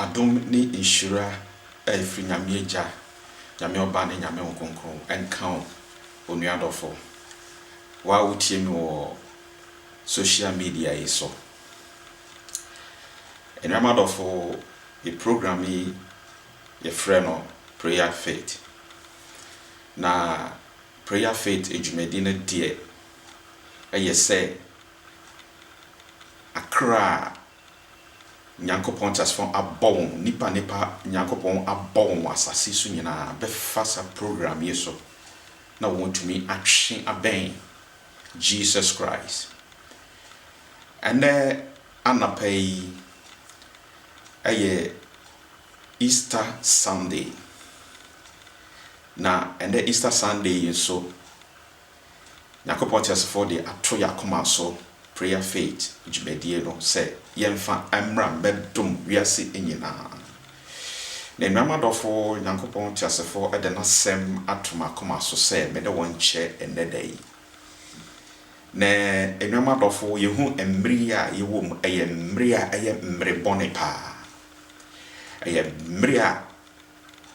Adom ne nhyira a ɛfiri Nyame Agya, Nyame Ɔba ne Nyame Honhom Kronkron nka wo onua dɔfo. Wo a wotie me wɔ social media yi so. Anuanom adɔfo, Yɛ program yi yɛfrɛ no prayer faith na prayer faith adwumadi no deɛ ɛyɛ sɛ akra a Nyankopɔn teasefo abɔ wɔn nipa nipa Nyankopɔn abɔ wɔn asase so nyinaa bɛfa sa program yi so na wɔn tumi atwe abɛn Jesus Christ ɛnɛ Anapa yi yɛ Easter Sunday, na ɛnnɛ Easter Sunday yi nso, Nyankopɔn teasefo de ato yɛn akoma so Prayer Faith dwumadie no sɛ yɛmfa mmra mmɛdom wiase nyinaa. Na anuanom adɔfo, Nyankopɔn teasefo de n'asɛm ato m'akoma so sɛ me ne wɔn nkyɛ ɛnnɛ da yi. Na anuanom adɔfo, yehu mmere yi a yɛwɔ mu, ɛyɛ mmere a ɛyɛ mmere bɔne paa. Ɛyɛ mmere a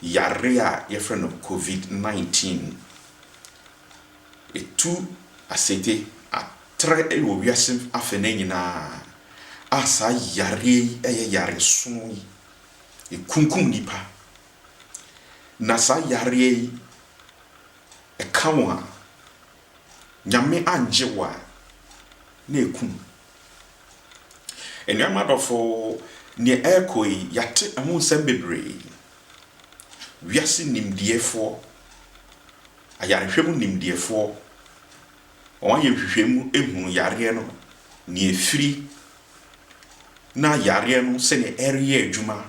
yare a yɛfrɛ no Covid 19, etu asete atrɛ wɔ wiase afenaa nyinaa, a saa yareɛ yi ɛyɛ yareso yi, ekunkum nipa. Na saa yareɛ yi ɛka wɔn a. Nyame angye wo a, na ɛkum. Anuanom adɔfo, neɛ ɛrekɔ yi, yɛate ɛho nsɛm bebree. Wiase nimdeɛfoɔ, ayarehwɛ mu nimdeɛfoɔ, wɔayɛ nhwehwɛmu ahunu yareɛ no, neɛ ɛfiri, na yareɛ no sɛdeɛ ɛreyɛ adwuma.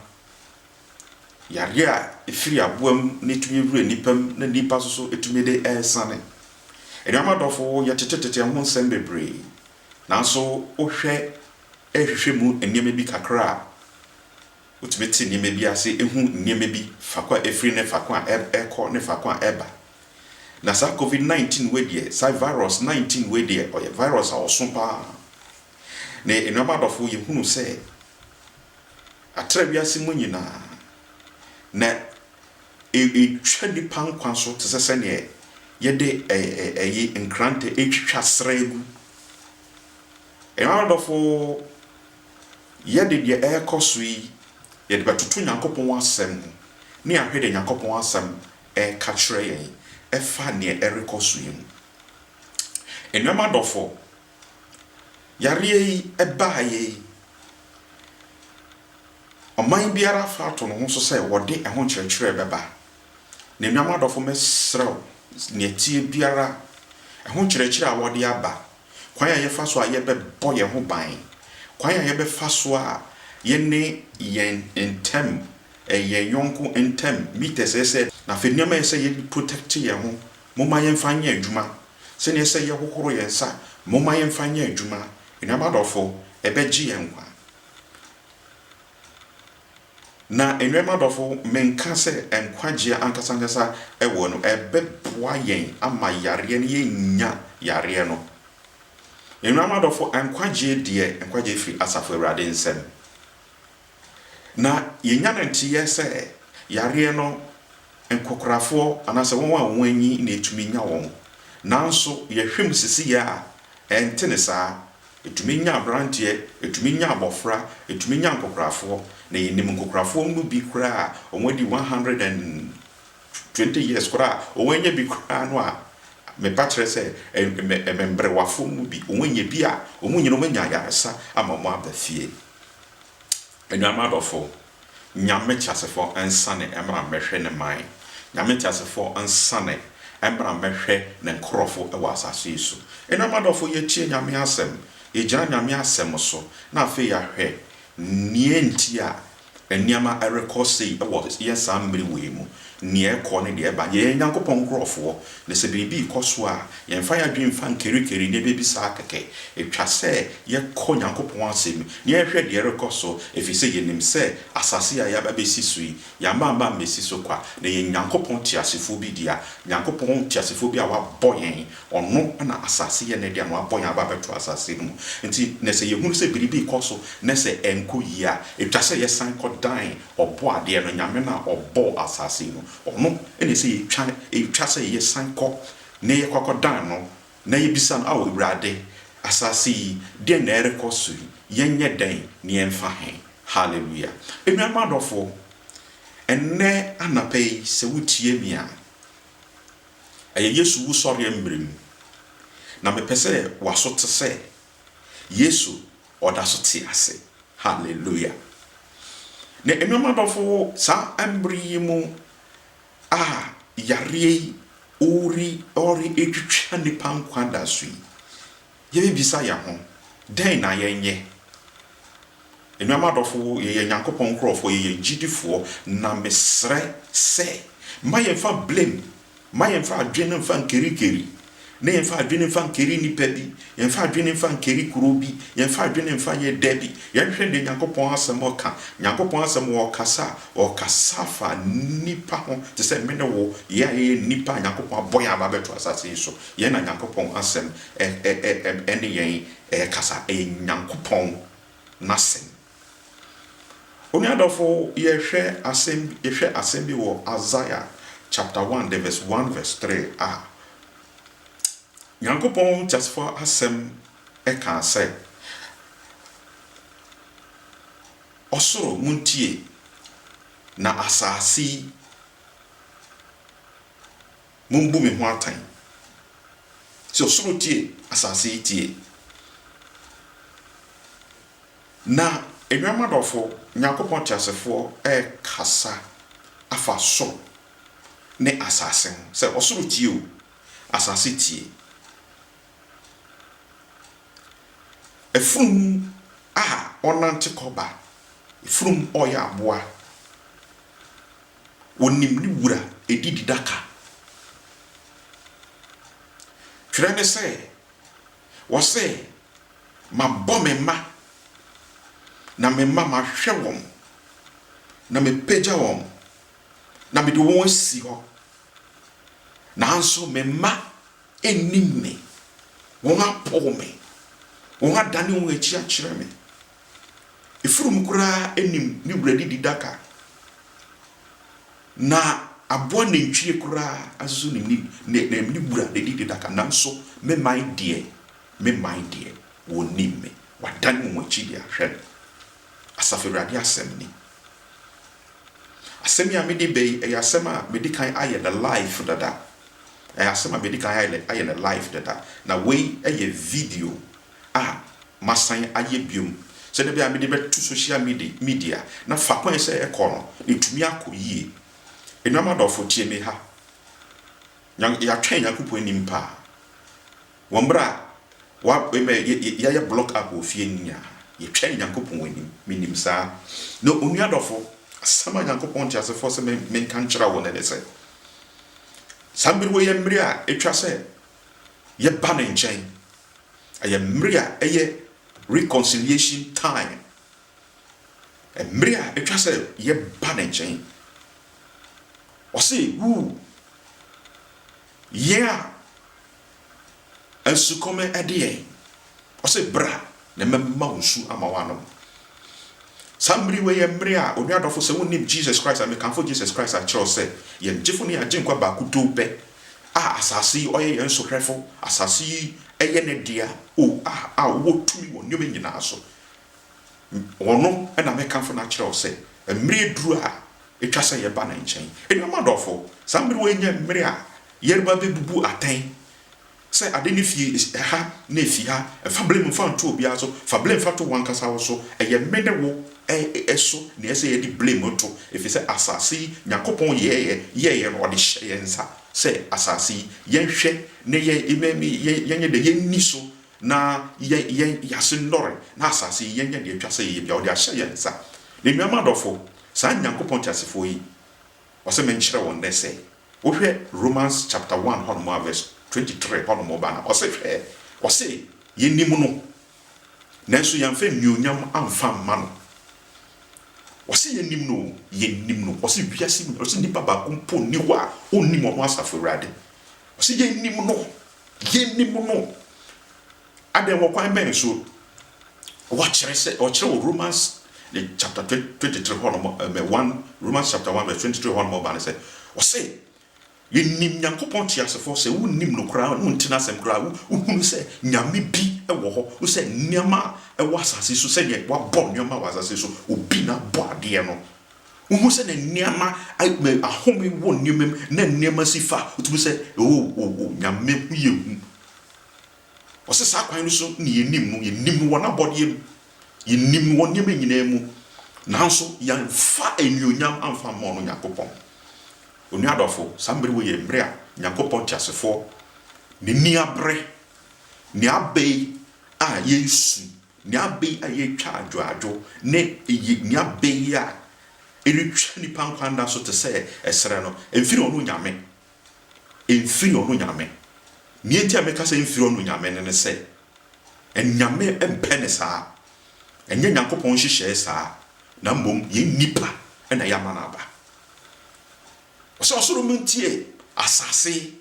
Yareɛ a ɛfiri aboa mu no tumi wura nnipa mu na nnipa nso so tumi de ɛresane. Anuanom adɔfo, yɛtetetete ho nsɛm bebree, nanso wohwɛ hwehwɛ mu nneɛma bi kakra a, wotumi te nneɛma bi ase, hu nneɛma bi, faako a ɛfiri ne faako a ɛrekɔ ne faako a ɛreba. Na saa covid 19 wei deɛ, saa virus 19 wei deɛ, ɔyɛ virus a ɔso pa ara. Na anuanom adɔfo, yɛhunu sɛ, Atra wiase mu nyinaa, na etwa nnipa nkwa so te sɛ sɛnea yɛde ɛyi nkrantɛ retwitwa srɛ gu. Ɛyɔn adɔfo, yɛde deɛ ɛrekɔ so yi, yɛde bɛtoto Nyankopɔn asɛm mu, ne ahwɛ deɛ Nyankopɔn asɛm ɛreka kyerɛ yɛn ɛfa neɛ ɛrekɔ so yi mu. Ɛnuam adɔfo, yareɛ yi baeɛ yi, ɔman biara afa ato ne ho so sɛ wɔde ɛho nkyerɛkyerɛ bɛba. Na anuanom adɔfo, mɛsrɛ wo, nea ɛteɛ biara, ɛho nkyerɛkyerɛ a wɔde aba, kwan a yɛfa so a yɛbɛbɔ yɛn ho ban, kwan a yɛbɛfa so a yɛne yɛn ntam, yɛn yɔnko ntam, metres ɛsɛ, na afei nneɛma a ɛsɛ yɛde protect yɛn ho, Momma yɛmfa nyɛ adwuma sɛnea ɛsɛ sɛ yɛhohoro yɛn nsa. Momma yɛmfa nyɛ adwuma, anuanom adɔfo, ɛbɛgye yɛn nkwa. Na anuanom adɔfo, menka sɛ nkwagyeɛ ankasa ankasa wɔ no, ɛbɛboa yɛn ama yareɛ no, yɛnnya yareɛ no. Anuanom adɔfo, nkwagyeɛ deɛ, nkwagyeɛ firi Asafo Awurade nsam. Na yɛnya no nteeɛ sɛ yareɛ no nkokorafoɔ anaasɛ wɔn a wɔanyin na ɛtumi nya wɔn. Nanso yɛhwɛ mu sesiyɛ a, ɛnte ne saa. Ɛtumi nya aberanteɛ, ɛtumi nya abɔfra, ɛtumi nya nkokorafoɔ. Na yɛnim nkokorafoɔ mu bi koraa a wɔadi one hundred and twenty years koraa a wɔannya bi koraa no a, mepa kyerɛ sɛ mmɛmmerewafoɔ mu bi, wɔannya bi a, wɔn nyinaa wɔanya ayaresa ama wɔaba fie. Anuanom adɔfo, Nyame teasefo nsane mmra mmɛhwɛ ne man. Nyame teasefo nsane mmra mmɛhwɛ ne nkorɔfo wɔ asase yi so. Anuanom adɔfo, yɛtie Nyame asɛm, yɛgyina Nyame asɛm so, na afei yɛahwɛ nea nti a nneɛma rekɔ sei wɔ yɛn saa mmere wei mu. Nea ɛkɔ ne deɛ ɛba. Yɛyɛ Nyankopɔn nkorɔfoɔ, na sɛ biribi rekɔ so a, yɛmfa yɛn adwene mfa nkerikeri nneɛma bi saa kɛkɛ. Ɛtwa sɛ yɛkɔ Nyankopɔn asɛm mu na yɛhwɛ deɛ ɛrekɔ so, ɛfiri sɛ yɛnim sɛ asase a yɛaba bɛsi so yi, yɛamma amma ammɛsi so kwa, na ɛyɛ Nyankopɔn teasefoɔ bi dea. Nyankopɔn teasefoɔ bi a wabɔ yɛn, ɔno na asase yɛ ne dea, na wabɔ yɛn aba abɛto asase no mu. Nti, na sɛ yɛhunu sɛ biribi rekɔ so na sɛ ɛnkɔ yie a, ɛtwa sɛ yɛsan kɔdan Ɔbɔadeɛ no, Nyame no a ɔbɔɔ asase yi no, ɔno na ɛsɛ yɛtwa, ɛtwa sɛ yɛsan kɔ na yɛkɔ akɔdan no na yɛbisa no, Ao Awurade, asase yi, deɛn na ɛrekɔ so yi, yɛnyɛ dɛn na yɛmfa he? Hallelujah! Anuanom adɔfoɔ, ɛnnɛ anapa yi, sɛ wotie me a, ɛyɛ Yesu wusɔreɛ mmerɛ mu, na mepɛ sɛ w'aso te sɛ Yesu ɔda so te ase. Hallelujah! Na anuanom adɔfo, saa mmere yi mu a yareɛ yi ɔre ɔretwitwa nnipa nkwa da so yi, yɛbɛbisa yɛn ho, dɛn na yɛnyɛ? Anuanom adɔfo, yɛyɛ Nyankopɔn nkurɔfoɔ, yɛyɛ agyidifoɔ, na mesrɛ sɛ mma yɛmfa blame Mma yɛmfa adwene mfa nkari kari, na yɛmfa adwene mfa nkari nnipa bi, yɛmfa adwene mfa nkari kuro bi, yɛmfa adwene mfa nyɛ da bi. Yɛnhwɛ deɛ Nyankopɔn asɛm ɔka. Nyankopɔn asɛm wɔ ɔkasa a, ɔkasa fa nnipa ho te sɛ me ne wo, yɛ a yɛyɛ nnipa a Nyankopɔn abɔ yɛn aba abɛto asase yi so. Yɛn na Nyankopɔn asɛm ɛ ɛ ɛ ɛne yɛn ɛrekasa. Ɛyɛ Nyankopɔn n'asɛm. Onua dɔfo, yɛhwɛ asɛm bi, yɛhwɛ asɛm bi wɔ Isaiah chapter one the verse one verse three a, Nyankopɔn Teasefo Asɛm ɛkaa sɛ, Ɔsoro, montie, na asase yi, mombu me ho atɛn. Sɛ ɔsoro tie, asase yi tie. Na, anuanom adɔfo, Onyankopɔn teasefoɔ rekasa afa soro ne asase ho, sɛ ɔsoro tie o, asase tie. Afunumu a ɔnante kɔ ba, afunumu a ɔyɛ aboa, ɔnim ne wura, ɛdi didaka. Twerɛ ne sɛ, Ɔse, Mabɔ me mma, na me mma mahwɛ wɔn, na mepagya wɔn, na mede wɔn asi hɔ, nanso me mma nnim me, wɔn apow me, wɔn adane wɔn akyi akyerɛ me. Efurum koraa nim ne wura dididaka. Na aboa nantwie koraa nso ne ne ne ne ne wura na ɛdi ne daka, nanso me man deɛ, me man deɛ, wɔnnim me, wɔadan wɔn akyi de ahwɛ me, Asafo Awurade asɛm ni. Asɛm yi a mede ba yi, ɛyɛ asɛm a madi kan ayɛ no live dada, ɛyɛ asɛm a madi kan ayɛ ayɛ no live dada, na wei yɛ video a masan ayɛ biom sɛdeɛ ɛbɛyɛ a mede bɛto social media na faako a ɛsɛ sɛ ɛkɔ no ɛtumi akɔ yie. Anuanom adɔfo tie me ha, yɛatwɛn Nyankopɔn anim paa wɔ mmerɛ a wa ɛbɛ yɛayɛ block up wɔ fie no nyinaa, yɛtwɛn Nyankopɔn anim, menim saa. Na onua dɔfo, asɛm a Nyankopɔn nteasefoɔ sɛ menka nkyerɛ wo no ne sɛ, saa mmerɛ wei yɛ mmerɛ a ɛtwa sɛ yɛba ne nkyɛn Ɛyɛ mmere a ɛyɛ reconciliation time. Mmere a etwa sɛ yɛba ne nkyɛn. Ɔse, Woo, yɛn a nsukɔm de yɛn, ɔse, bra na mɛma wo nsu ama woanom. Saa mmere wei yɛ mmere a onua dɔfo sɛ wonnim Jesus Christ a, mekamfo Jesus Christ a kyerɛw sɛ yɛn gyefo ne yɛn agyenkwa baako too pɛ a asase yi ɔyɛ yɛn sohwɛfo, asase yi yɛ ne dea o a a ɔwɔ tumi wɔ nneɛma nyinaa so. Ɔno na mekamfo no akyerɛw sɛ mmere aduru a etwa sɛ yɛba ne nkyɛn. Anuanom adɔfo, saa mmere wei nyɛ mmere a yɛreba abebubu atɛn Sɛ ade no fi ha na efi ha, mfa blame mfa nto obiara so. Fa blame fa to w'ankasa wo so. Ɛyɛ me ne wo so na ɛsɛ sɛ yɛde blame to, efisɛ asase yi, Nyankopɔn yɛeɛ, yɛeɛ no, ɔde hyɛɛ yɛn nsa sɛ asase yi, yɛnhwɛ na yɛnyɛ dɛ, yɛnni so na yɛn ase nnɔre, na asase yi, yɛnyɛ deɛ ɛtwa sɛ yɛyɛ biara. Ɔde ahyɛ yɛn nsa. M'anuanom adɔfo, saa Nyankopɔn teasefoɔ yi, Ɔse menkyerɛ wɔn dɛ sɛ wohwɛ Romans chapter one hɔnom a verse twenty three hɔnom ba no ɔse hwɛ ɔse yɛnim no nanso yɛamfa anuonyam amfa mma no ɔse yɛnim no o yɛnim no ɔse wiase nyinaa ɔse nipa baako mpo nni hɔ a ɔnnim ɔno asafo awurade ɔse yɛnim no yɛnim no Adɛn, wɔ kwan bɛn so? Wɔakyerɛ sɛ, wɔkyerɛ wɔ Romans ne chapter twenty three hɔ nom, ɛmɛ one, Romans chapter one verse twenty three hɔ nom ɔba no sɛ, ɔse, Yɛnim Nyankopɔn teasefɔ, sɛ wonnim no koraa a, na wonte n'asɛm koraa a, wohunu sɛ Nyame bi wɔ hɔ, wo sɛ nneɛma a ɛwɔ asase so, sɛdeɛ wabɔ nneɛma wɔ asase so, obi na abɔ adeɛ no. Wohu sɛdeɛ nneɛma, ahome wɔ nneɛma mu, na nneɛma si fa, wotumi sɛ, oh, oh, oh, Nyame ho yɛ hu. Ɔse saa kwan no so ne yɛnim no, yɛnim no wɔ n'abɔdeɛ mu, yɛnim no wɔ nneɛma nyinaa mu, nanso yɛamfa anuonyam amfa mmɔ ɔno Nyankopɔn. Onua adɔfo, saa mmere wei yɛ mmere a Nyankopɔn teasefoɔ n'ani abere, nea aba yi a yɛresu, nea aba yi a yɛretwa adwoadwo, ne nea aba yi a ɛretwa nnipa nkwa nna so te sɛ ɛserɛ no, ɛmfiri ɔno Nyame. Mfiri ɔno Nyame. Neɛ nti a meka sɛ mfiri ɔno Nyame no ne sɛ, Nyame mpɛ no saa. Ɛnyɛ Nyankopɔn nhyehyɛɛ saa, na mmom yɛn nnipa na yɛama no aba. Ɔsɛ ɔsoro no ntie, asase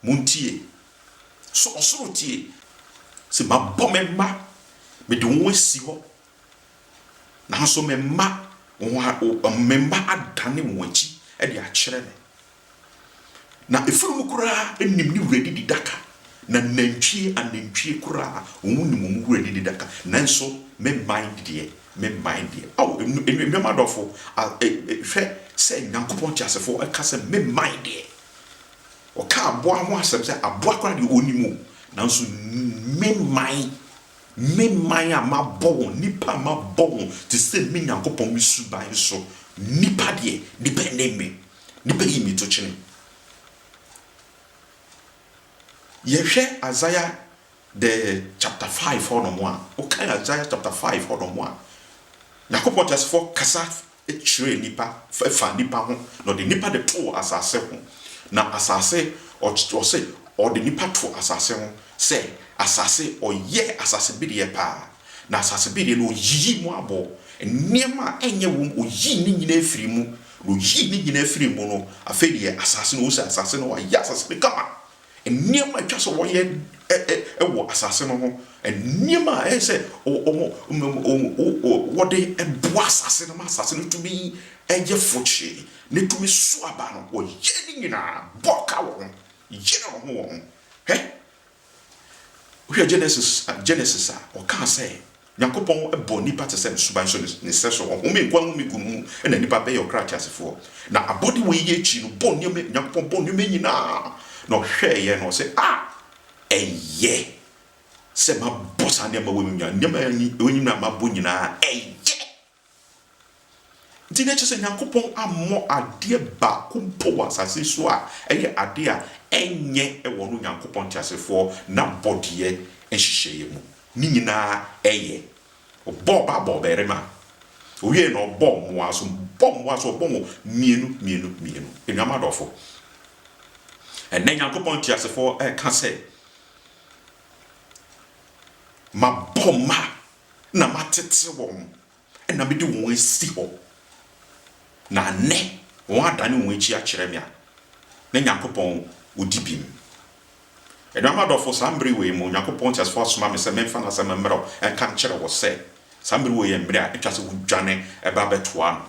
mo ntie. So ɔsoro tie? Sɛ mabɔ me mma, mede wɔn asi hɔ Nanso me mma, me mma adane wɔn akyi de akyerɛ me. Na afunumu koraa nim ne wura didi daka, na nantwie anantwie koraa, wɔnim wɔn wura didi daka, nanso me mman deɛ, me mman deɛ. Ao, anuanom adɔfo, hwɛ sɛ Nyankopɔn teasefo ka sɛ me mman deɛ. Ɔka aboa ho asɛm sɛ aboa koraa deɛ ɔnim o, nanso me mman. Me man a mabɔ wɔn, nnipa a mabɔ wɔn te sɛ me Nyankopɔn me suban so. Nnipa deɛ, nnipa nne me, nnipa yi me to kyene. Yɛhwɛ Isaiah the chapter five hɔnom a, wokan Isaiah chapter five hɔnom a, Nyankopɔn Teasefoɔ kasa kyerɛɛ nnipa faa nnipa ho, na ɔde nnipa de too asase ho, na asase, ɔse ɔde nnipa too asase ho sɛ asase, ɔyɛɛ asase bedeɛ paa, na asase bedeɛ no ɔyiyii mu aboɔ, nneɛma a ɛnyɛ wom, ɔyii ne nyinaa firii mu, na ɔyii ne nyinaa firii mu no, afei deɛ asase no, ɔhu sɛ asase no, wayɛ asase no kama, Nneɛma a ɛtwa sɛ wɔyɛ wɔ asase no ho, nneɛma a ɛyɛ sɛ wɔde boa asase no ma asase no tumi yɛ fokyee na etumi so aba no, wɔyɛ ne nyinaa bɔ ka wɔ ho, yere wɔn ho wɔn ho. Hɛ! Wohwɛ Genesis a, ɔkaa sɛ Nyankopɔn bɔɔ nnipa te sɛ ne suban so ne sɛso, ɔhome nkwa home gu no mu na nnipa bɛyɛ ɔkra ateasefoɔ. Na abɔde wei yɛ akyi no, bɔɔ nneɛma, Nyankopɔn bɔɔ nneɛma nyinaa, na ɔhwɛɛeɛ na ɔse, Ah! Ɛyɛ sɛ mabɔ saa nneɛma wei, nneɛma wei nyinaa mabɔ nyinaa, ɛyɛ! Nti na ɛkyerɛ sɛ Nyankopɔn ammɔ adeɛ baako mpo wɔ asase so a ɛyɛ adeɛ a ɛnyɛ wɔ no Nyankopɔn teasefoɔ n'abɔdeɛ nhyehyɛeɛ mu. Ne nyinaa ɛyɛ. Ɔbɔɔ ɔbaa bɔɔ ɔbarima. Ɔwiee no ɔbɔɔ mmoa nso. Ɔbɔɔ mmoa nso ɔbɔɔ wɔn mmienu mmienu mmienu. Anuanom adɔfo, ɛnnɛ Nyankopɔn teasefoɔ ɛreka sɛ, Mabɔ mma na matete wɔn na mede wɔn asi hɔ, na nnɛ wɔadane wɔn akyi akyerɛ me a, na Nyankopɔn ɔdi bem. Anuanom adɔfo, saa mmere wei mu, Nyankopɔn teasefo asoma me sɛ memfa n'asɛm mmra nka nkyerɛ wo sɛ, saa mmere wei yɛ mmere a ɛtwa sɛ wodwane ba bɛtoa no,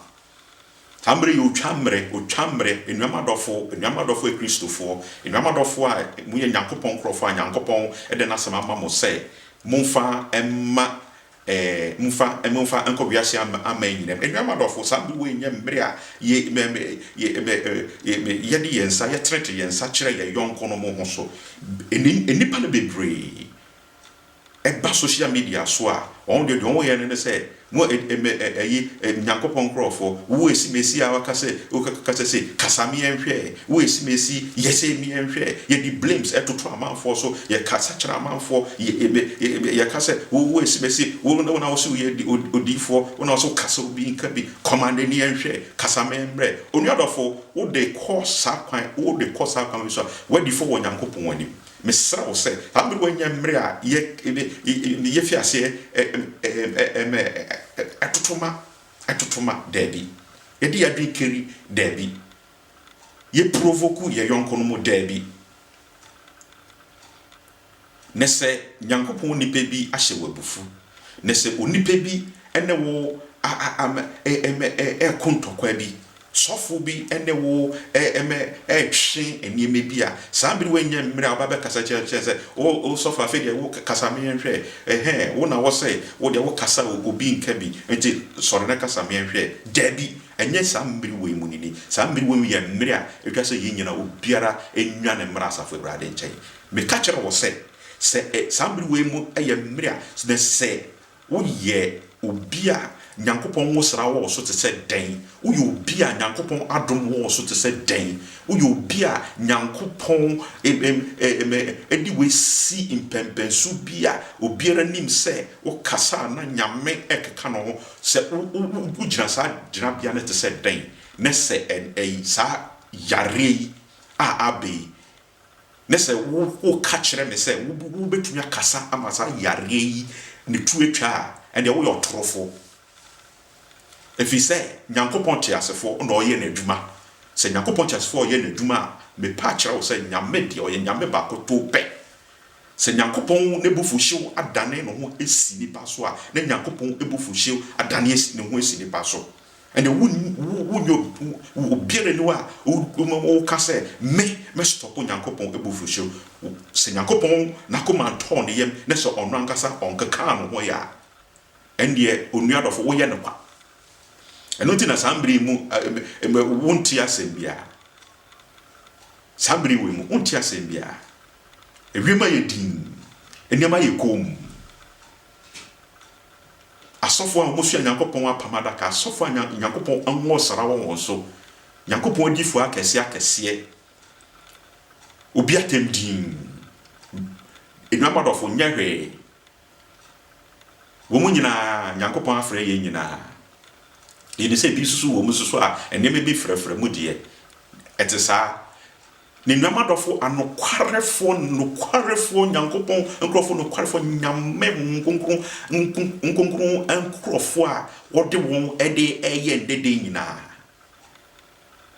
Saa mmerɛ yi yɛ otwa mmerɛ, otwa mmerɛ, anuanom adɔfo, anuanom adɔfo Akristofoɔ, anuanom adɔfo a moyɛ Nyankopɔn nkorɔfoɔ a Nyankopɔn de N'Asɛm ama mo sɛ momfa mma, ɛɛ, momfa, momfa nkɔ wiase ama, aman nyina mu. Anuanom adɔfo, saa mmerɛ wei nyɛ mmerɛ a yɛ, mɛ, mɛ, yɛ, mɛ, yɛ, mɛ, yɛde yɛn nsa, yɛtenetene yɛn nsa kyerɛ yɛn yɔnkonom ho so. Nni, nnipa no bebree. ɛba social media so a, wɔn deɛ deɛ wɔn yɛ no ne sɛ, mo ɛ ɛ mɛ ɛ ɛyi ɛ Nyankopɔn nkorɔfoɔ, wo esi me esi a waka sɛ, wo ka kasa sei, kasa me yɛnhwɛ, wo esi me esi, yɛ sei me yɛnhwɛ, yɛde blames ɛtoto amanfoɔ so, yɛ kasa kyerɛ amanfoɔ, yɛ ɛ mɛ ɛ mɛ yɛ ka sɛ, wo wo esi me esi, wo wo na wo se wo yɛ di odi odiyifoɔ, wo na wo se wo kasa obi nka bi, kɔma n'ani yɛnhwɛ, kasa me mmerɛ. Onua dɔfo, wo de kɔ saa kwan, wo de kɔ saa kwan wei so a, w'adi fɔ wɔ Nyankopɔn anim. Mesrɛ wo sɛ, saa mmerewa nyɛ mmere a yɛfi aseɛ ma ɛtotoma ɛtotoma, daabi. Yɛde yɛn adwene kari, daabi. Yɛ provoku yɛn yɔnkonom, daabi. Na sɛ Nyankopɔn nipa bi ahyɛ wo abufu, na sɛ onipa bi ne wo reko ntɔkwa bi, Sɔfo bi ne wo retwe nneɛma bi a, saa bere woanya mmerɛ a wobɛ bɛkasa kyerɛ no sɛ, O sɔfo, afei deɛ wo kasa me nhwɛ, ɛhɛɛ, wo na wɔ sɛ wo deɛ wo kasa o, obi nka bi, nti sɔre na kasa me nhwɛ. Daabi, ɛnyɛ saa mmerɛ wei mu no ni. Saa mmerɛ wei mu yɛ mmerɛ a ɛtwa sɛ yɛn nyinaa obiara nnwane mmra asafo Awurade nkyɛn. Meka kyerɛ wo sɛ, sɛ saa mmerɛ wei mu yɛ mmerɛ a, na sɛ Woyɛ obi a Nyankopɔn nwosra wɔ wo so te sɛ dɛn? Woyɛ obi a Nyankopɔn adom wɔ wo so te sɛ dɛn? Woyɛ obi a Nyankopɔn de wo asi mpɛnpɛnso bi a obiara nim sɛ wokasa a na Nyame rekeka no ho? Sɛ wogyina saa gyinabea no te sɛ dɛn? Ne sɛ saa yareɛ yi a aba yi ne sɛ woka kyerɛ me sɛ wobɛtumi akasa ama saa yareɛ yi ne tu atwa a, ɛnneɛ woyɛ ɔtorofoɔ. Ɛfiri sɛ Nyankopɔn teasefoɔ na ɔyɛ n'adwuma. Sɛ Nyankopɔn teasefoɔ ɔyɛ n'adwuma a, mepɛ akyerɛ wo sɛ Nyame deɛ ɔyɛ Nyame baakotoo pɛ. Sɛ Nyankopɔn n'abufuhyew adane ne ho asi nnipa so a, na Nyankopɔn abufuhyew adane ne ho asi nnipa so. Ɛnde wo wo wo nyɛ wo obiara nni hɔ a wobɛma woka sɛ me mɛ stop Nyankopɔn abufuhyew. Wo sɛ Nyankopɔn n'akoma ntɔɔ ne yam na sɛ ɔno ankasa ɔnkekaa ne ho yɛ a, ɛndeɛ onua dɔfo woyɛ no kwa. Ɛno nti na saa mmere yi mu ɛmɛ wo nte asɛm biara. Saa mmere wei mu wo nte asɛm biara. Ewiem ayɛ dinn, nneɛma ayɛ komm. Asɔfo a wɔsoa Nyankopɔn apam adaka, asɔfo a Nyankopɔn ahu ɔsra wɔ wɔn so, Nyankopɔn adiyifo akɛse akɛseɛ, obi atɛm dinn. Anuanom adɔfo, nyɛ hwee. Wɔn nyinaa, Nyankopɔn afrɛ yɛn nyinaa. Yɛnim sɛ ebi nso so wɔ mu nso so a, nneɛma bi frɛfrɛ mu deɛ, ɛte saa. N'enuanom adɔfo, anokwarefoɔ, nokwarefoɔ, Nyankopɔn nkorɔfoɔ, nokwarefoɔ, Nyame Honhom Kronkron nko, nkonkron nkorɔfoɔ a Ɔde wɔn de reyɛ dede nyinaa,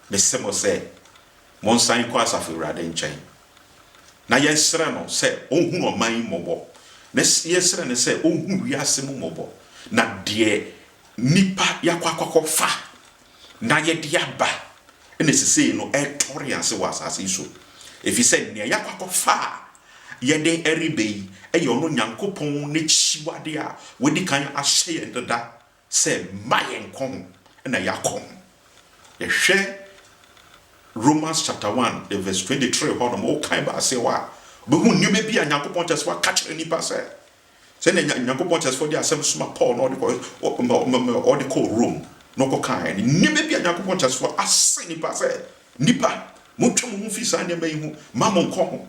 mese mo sɛ, monsan nkɔ Asafo Awurade nkyɛn, na yɛnsrɛ No sɛ Ɔnhunu ɔman yi mmɔbɔ, na yɛnsrɛ No sɛ Ɔnhunu wiase mu mmɔbɔ, na deɛ nnipa yɛakɔ akɔfa na yɛde aba na sesei no ɛretɔre yɛn ase wɔ asase yi so, efisɛ nea yɛakɔ akɔfa a yɛde reba yi yɛ ɔno Nyankopɔn n'akyiwade a wadi kan ahyɛ yɛn dada sɛ mma yɛnkɔ ho na yɛakɔ ho. Yɛhwɛ Romans chapter one the verse twenty three hɔ nom, wokan ba aseɛ hɔ a, wobɛhu nneɛma bi a Nyankopɔn kyerɛ sɛ waka kyerɛ nnipa sɛ Sɛnea Nya Nyankopɔn teasefo de asɛm soma Paul na ɔde kɔ ɔde kɔɔ Rome no kɔkae no, nneɛma bi a Nyankopɔn teasefo ahyɛ nnipa sɛ, Nnipa, montwa mo ho mfi saa nneɛma yi ho mma monnkɔ ho.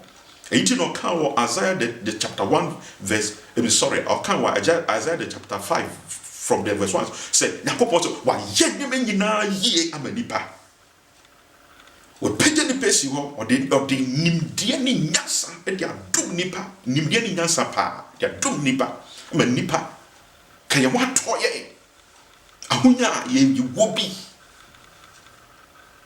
Eyi nti na ɔkaa wɔ Isaiah the, the chapter one verse, I mean, sorry, ɔkaa wɔ Isaiah the chapter five from the verse one sɛ Nyankopɔn sɛ wayɛ nneɛma nyinaa yie ama nnipa. Wapagya nnipa asi hɔ, ɔde, ɔde nimdeɛ ne nyansa de adom nnipa, nimdeɛ ne nyansa paa, de adom nnipa, ama nnipa, ka yɛn ho atɔ yɛn, ahonya a yɛ, yɛwɔ bi,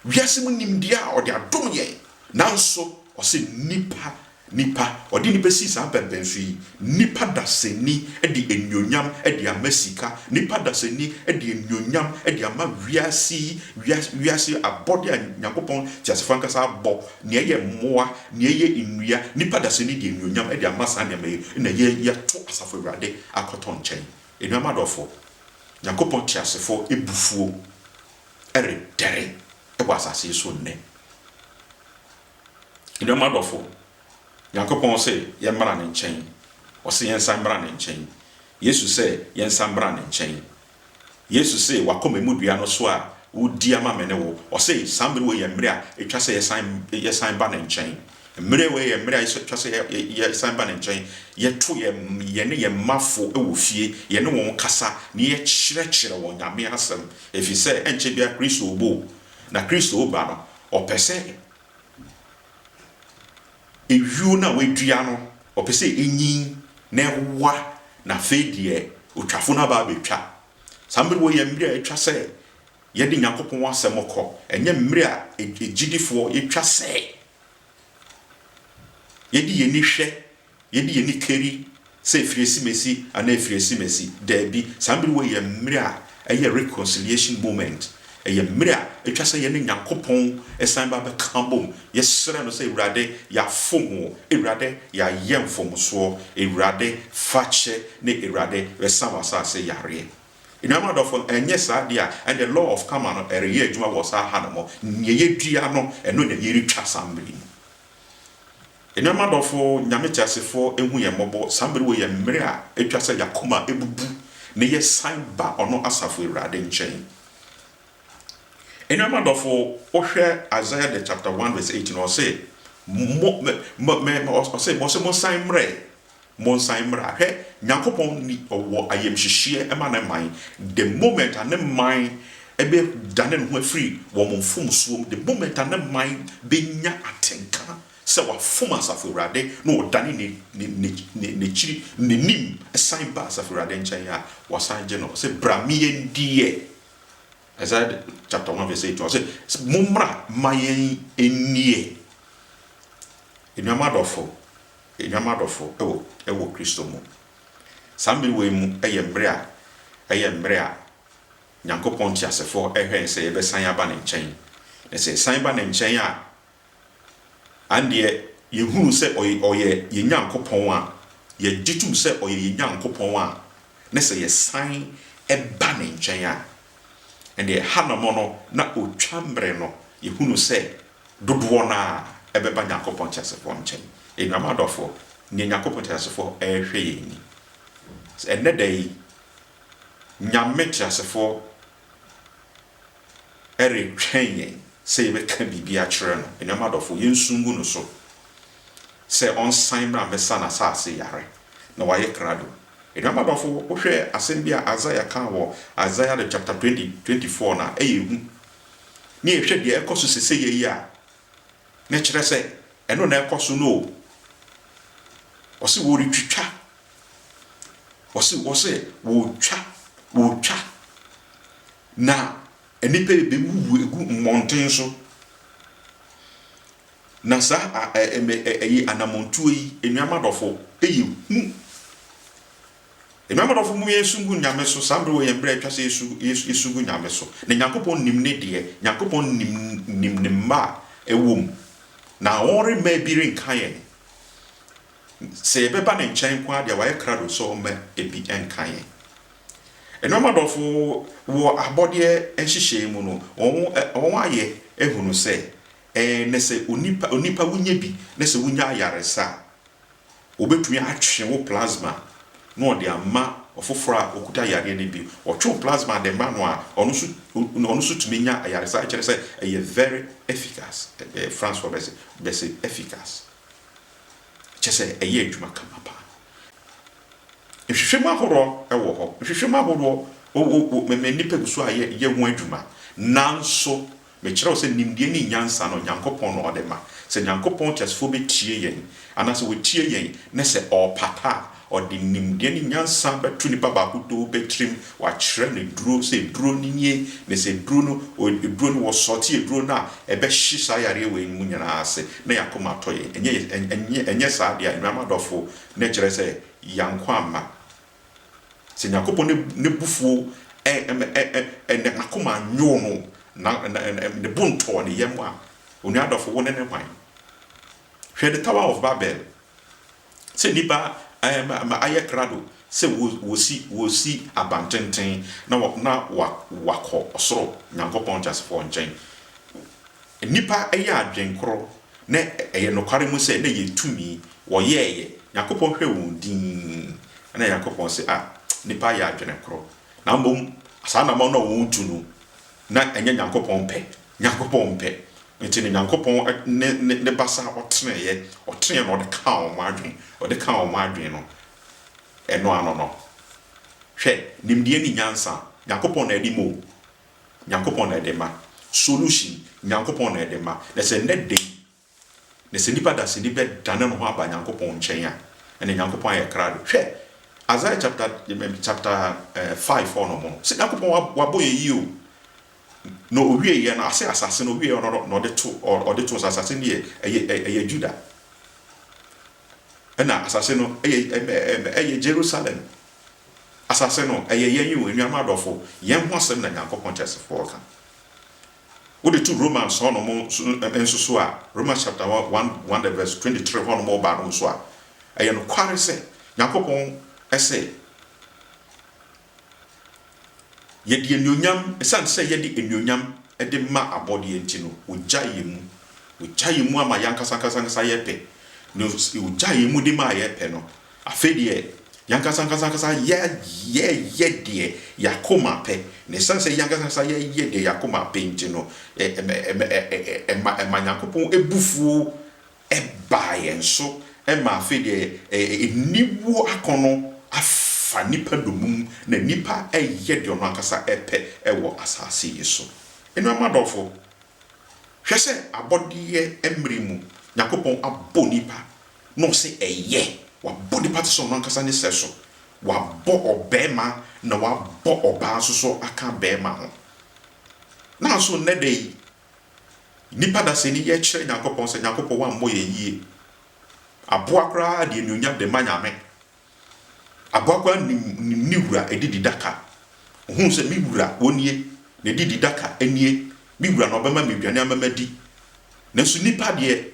wiase mu nimdeɛ a ɔde adom yɛn, nanso ɔse nnipa Nipa, ɔde nipa sii saa mpɛnpɛnso yi, nipa dasani de anuonyam de ama sika, nipa dasani de anuonyam de ama wiase yi, wiase, wiase abɔde a Nyankopɔn teasefo ankasa abɔ, nea ɛyɛ mmoa, nea ɛyɛ nnua, nipa dasani de anuonyam de ama saa nneɛma yi, na yɛ, yɛto Asafo Awurade akɔtɔ nkyɛn. Anuanom adɔfo, Nyankopɔn teasefo abufuo redɛre wɔ asase yi so nnɛ. Anuanom adɔfo, Nyankopɔn se yɛmmra Ne nkyɛn. Ɔse yɛnsan mmra Ne nkyɛn. Yesu sɛ yɛnsan mmra Ne nkyɛn. Yesu se W'akoma mu dua no so a wodi ama me ne wo. Ɔse saa mmere wei yɛ mmere a etwa sɛ yɛsan yɛsan ba Ne nkyɛn. Mmere wei yɛ mmere a etwa sɛ yɛ yɛsan ba Ne nkyɛn. Yɛto yɛ yɛne yɛn mmafo wɔ fie, yɛne wɔn kasa na yɛkyerɛkyerɛ wɔn Nyame Asɛm, efisɛ ɛnkyɛ biara Kristo reba o, na Kristo reba no ɔpɛ sɛ ayuo no a wadua no, ɔpɛ sɛ ɛnyin na ɛwowa, na afei deɛ otwafo no aba abɛtwa. Saa mmerɛ wɔ yɛ mmerɛ a ɛtwa sɛ yɛde Nyankopɔn asɛm kɔ, ɛnyɛ mmerɛ a agyidifoɔ yɛtwa sɛ yɛde yɛni hwɛ Yɛde yɛn ani kari sɛ ɛfiri asimasi anaa ɛfiri asimasi? Daabi. Saa mmere wei yɛ mmere a ɛyɛ reconciliation moment. Ɛyɛ mmere a ɛtwa sɛ yɛne Nyankopɔn san ba bɛka bom. Yɛsrɛ no sɛ, Awurade, yɛafom wo. Awurade, yɛayɛ mfomsoɔ. Awurade, fa kyɛ. Ne Awurade, bɛsa w'asase yareɛ. Anuanom adɔfo, ɛnyɛ saa deɛ a, ɛnneɛ law of karma no reyɛ adwuma wɔ saa ha no mu. Nea yɛdua no, ɛno na yɛretwa saa mmere yi mu. Anuanom adɔfo, Nyame teasefo nhu yɛn mmɔbɔ, saa mmere wei yɛ mmere a etwa sɛ y'akoma bubu na yɛ san ba ɔno asafo Awurade nkyɛn. Anuanom adɔfo, wo hwɛ Isaiah the chapter one verse eighteen, ɔse, Mo, me, me, me, ɔse, ɔse, monsan mmrɛ, Monsan mmra. Hwɛ, Nyankopɔn ni, Ɔwɔ ayamhyehyeɛ ma Ne man, the moment a Ne man bɛdane ne ho afiri wɔn mfomsoɔ mu, the moment a Ne man bɛnya atenka sɛ wɔafom Asafo Awurade na wɔdane N'akyiri, N'anim san ba Asafo Awurade nkyɛn a, wɔasan agye no. Ɔse, Bra me yɛn diɛ. Isaiah chapter 1 verse 8, Ɔse, Mommra ma yɛn nniɛ. Anuanom adɔfo, Anuanom adɔfo wɔ wɔ Kristo mu, saa mmere wei mu yɛ mmere a ɛyɛ mmere a Nyankopɔn teasefo hwɛn sɛ yɛbɛsan aba Ne nkyɛn, na sɛ yɛsan ba Ne nkyɛn a, andeɛ yɛhunu sɛ Ɔy Ɔyɛ yɛn Nyankopɔn a, yɛgye tom sɛ Ɔyɛ yɛn Nyankopɔn a, ne sɛ yɛsan ba Ne nkyɛn a, ɛndeɛ Hanammɔ no na otwa mmere no, yɛhunu sɛ Dodoɔ no ara ɛbɛba Nyankopɔn teasefoɔ nkyɛn. Anuanom adɔfoɔ, nea Nyankopɔn teasefoɔ ɛrehwɛ yɛn ni. Sɛ ɛnnɛ da yi, Nyame teasefoɔ ɛretwɛn yɛn sɛ yɛbɛka biribi akyerɛ no. Anuanom adɔfoɔ, yɛnsu ngu no so sɛ ɔnsan mmra mmɛsa n'asaase yare, na wayɛ krado. Anuanom adɔfoɔ, wohwɛ asɛm bi a Isaiah kaa wɔ Isaiah the chapter 20, 24 no a, ɛyɛ hu. na yɛhwɛ deɛ ɛkɔ so sesɛyɛ yi a, na ɛkyerɛ sɛ ɛno na ɛkɔ so no o. Ɔse wɔretwitwa, ɔse wɔse wɔretwa, wɔretwa, na nnipa rebɛwuwu agu mmɔnten so. Na saa a, ɛyi anammɔntuo yi, anuamadɔfo, ɛyɛ hu. Enuanom adɔfo momma yɛnsu ngu Nyame so saa mbre wɔ yɛn mbre a etwa sɛ yɛsu ngu Nyame so na Nyankopɔn nim ne deɛ Nyankopɔn nim nim ne mma a ɛwɔ mu na wɔn remma ebi renka yɛn sɛ yɛbɛba ne nkyɛn nko ara deɛ wayɛ krado sɛ ɔmma ebi nka yɛn Enuanom adɔfo wɔ abɔdeɛ nhyehyɛɛ mu no wɔn wɔn ayɛ ahunu sɛ ɛɛ nɛ sɛ onipa onipa wonya bi nɛ sɛ wonya ayaresa a Wobetumi atwe wo plasma na wɔde ama ɔfoforo a okuta yareɛ no bi. Wɔtwe wo plasma de ma no a, ɔno nso ɔno nso tumi nya ayaresa. Ɛkyerɛ sɛ ɛyɛ very efficace, ɛɛ Francefoɔ bɛse bɛse efficace. Kyerɛ sɛ ɛyɛ adwuma kama paa. Nhwehwɛmu ahoroɔ wɔ hɔ. Nhwehwɛmu ahoroɔ, wo wo me me nnipa gu so a yɛ yɛ ho adwuma. Nanso Mekyerɛ wo sɛ nimdeɛ ne nyansa no, Nyankopɔn na ɔde ma. Sɛ Nyankopɔn teasefoɔ bɛtie yɛn, anaasɛ wɔtie yɛn, ne sɛ ɔrepata a, ɔde nimdeɛ ne nyansa bɛto nipa baako too pɛ tirim, wakyerɛ no duro, sɛ duro no nie, ne sɛ duro no, duro no, wɔsɔɔte aduro no a, ɛbɛhye saa yareɛ wei no mu nyinaa ase, na yɛn akoma atɔ yɛn. Ɛnyɛ, ɛnyɛ, ɛnyɛ saa deɛ a, anuanom adɔfoɔ, na ɛkyerɛ sɛ yɛn nko amma. Sɛ Nyankopɔn ne ne bufuo ɛɛ ne akoma annwoo no, na ne bo ntɔɔ ne yam a, onua dɔfo wo ne no hwan? Hwɛ the Tower of Babel, sɛ nnipa ɛɛ ayɛ krado sɛ wɔsi wɔsi abantenten na na wɔakɔ ɔsoro Nyankopɔn teasefoɔ nkyɛn. Nnipa yɛ adwen koro, na ɛyɛ nokware mu sɛ na ɛyɛ tumi, wɔyɛɛeɛ, Nyankopɔn hwɛɛ wɔn dinn, ɛna Nyankopɔn se, ah, nnipa yɛ adwene koro, na mmom saa anammɔn no a wɔn tu no, na ɛnyɛ Nyankopɔn pɛ, Nyankopɔn pɛ, nti no Nyankopɔn ne ne ne basa a ɔteneeɛ, ɔteneeɛ na ɔde kaa wɔn adwen, ɔde kaa wɔn adwen no, ɛno ano no, hwɛ, nimdeɛ ne nyansa, Nyankopɔn na ɛde ma o, Nyankopɔn na ɛde ma. Solution, Nyankopɔn na ɛde ma. Na sɛ nnɛ da yi, na sɛ nipa dasani bɛdane ne ho aba Nyankopɔn nkyɛn a, ɛne Nyankopɔn ayɛ krado. Hwɛ, Isaiah chapter chapter eh, five hɔ nom no, sɛ Nyankopɔn wa- wabɔ yɛ yie o, na owie yɛ no, ase asase no owie yɛ no, na ɔde to, ɔ- ɔde to nsa, asase no yɛ, ɛyɛ, ɛyɛ Judah. Ɛna asase no ɛyɛ ɛyɛ Jerusalem asase no ɛyɛ yɛn o anuanom adɔfo yɛn ho asɛm na Nyankopɔn teasefoɔ ka wode to Romans hɔ nom nso so a Romans chapter 1 1 the verse 23 hɔ nom ɔba nom nso a ɛyɛ nokware sɛ Nyankopɔn ɛse Yɛde anuonyam, esiane sɛ yɛde anuonyam de ma abɔdeɛ nti no, wɔgyae yɛn mu. Wɔgyae yɛn mu ama yɛn ankasa ankasa ankasa yɛpɛ. Na wɔgyae yɛn mu de maa yɛpɛ no, afei deɛ, yɛn ankasa ankasa ankasa yɛ, yɛyɛ deɛ yɛn akoma pɛ. Na esiane sɛ yɛn ankasa ankasa yɛyɛ deɛ yɛn akoma pɛ nti no, ɛma, ɛma, ɛma Nyankopɔn bo fuo baa yɛn so ma afei deɛ aniwuo akɔnnɔ afa nnipa domum na nnipa reyɛ deɛ ɔno ankasa pɛ wɔ asase yi so. Anuanom adɔfo, hwɛ sɛ abɔdeɛ mmere mu Nyankopɔn abɔ nnipa na ɔse ɛyɛ. Wabɔ nnipa te sɛ ɔno ankasa ne sɛso. Wabɔ ɔbarima na wabɔ ɔbaa nso so aka barima ho. Nanso nnɛ da yi, Nnipa da sɛnii yɛ kyerɛ Nyankopɔn sɛ Nyankopɔn wammɔ yɛn yie. Aboa koraa de anuonyam de ma Nyame. Aboa koraa nim nim ne wura adidi daka. Ohunu sɛ me wura wɔ nie, n'adidi daka nie, me wura na ɔbɛma me aduane ama madi. Nanso nnipa deɛ,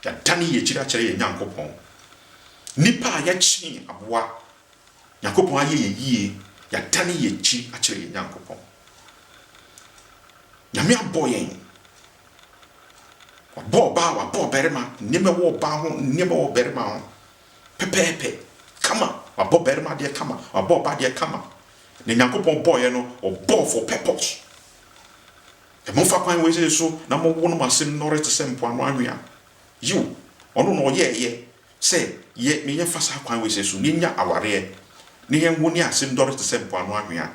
yɛadane yɛn akyiri akyerɛ yɛn Nyankopɔn. Nnipa a yɛkyee aboa Nyankopɔn ayɛ yɛn yie, yɛadane yɛn akyi akyerɛ yɛn Nyankopɔn. Nyame abɔ yɛn, Wabɔ ɔbaa, Wabɔ ɔbarima, nneɛma ɛwɔ ɔbaa ho, nneɛma ɛwɔ ɔbarima ho, pɛpɛɛpɛ, kama, Wabɔ barima deɛ kama, Wabɔ ɔbaa deɛ kama. Na Nyankopɔn bɔɔyɛ no, Ɔbɔɔ for purpose. Ɛ momfa kwan wei sei so na mowo no mo ase nnɔre te sɛ mpoano anwea. Yiw, Ɔno na Ɔyɛɛyɛ, Sɛ yɛ ne yɛfa saa kwan wei sɛ so, na yɛnya awareɛ, na yɛn wo ne ase dɔre te sɛ mpoano anhwea.